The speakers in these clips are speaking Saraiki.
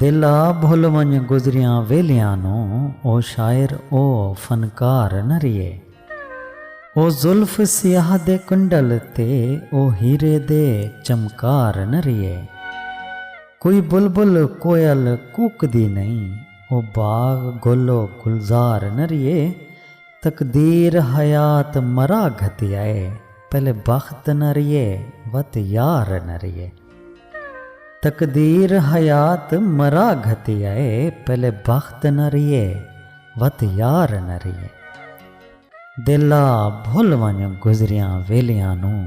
دل آ بھل ونڄ گزریاں ویلیاں نوں او شاعر او فنکار نہ ریہے او زلف سیاہ دے کنڈل تے او ہیرے دے چمکار نہ ریہے کوئی بلبل کوئل کوکدی نئیں او باغ گل و گلزار نہ ریہے تقدیر حیات مرا گھتیا اے پہلے بخت نہ ریہے وت یار نہ ریہے۔ تقدیر حیات مرا گھتی اے پہلے بخت نہ ریے وت یار نہ ریے دل آ بھل ونج گزریاں ویلیاں نوں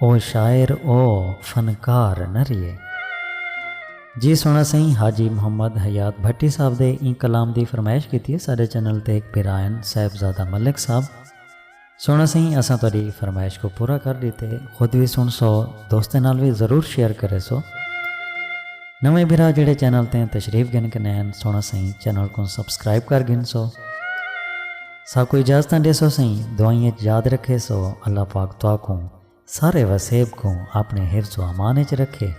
او شاعر او فنکار نہ ریے۔ جی سونا سئیں حاجی محمد حیات بھٹی صاحب دے ایں کلام دی فرمائش کیتی ہے ساڈے چینل تے ہک بھرا ہن صاحبزادہ ملک صاحب۔ سوہݨا سئیں اساں تہاݙی فرمائش کوں پورا کر ݙتے خود وی سݨسو دوستاں نال وی ضرور شیئر کریسو نویں بھرا جیڑھے چینل تیں تشریف گھن کنے ہن سوہݨا سئیں چینل کوں سبسکرائب کر گھنسو ساکوں اجازتاں ݙیسو سئیں دعائیں اچ یاد رکھیسو اللہ پاک تہاکوں سارے وسیب کوں اپݨے حفظ و امان اچ رکھے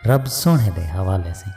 رب سوہݨے دے حوالے سئیں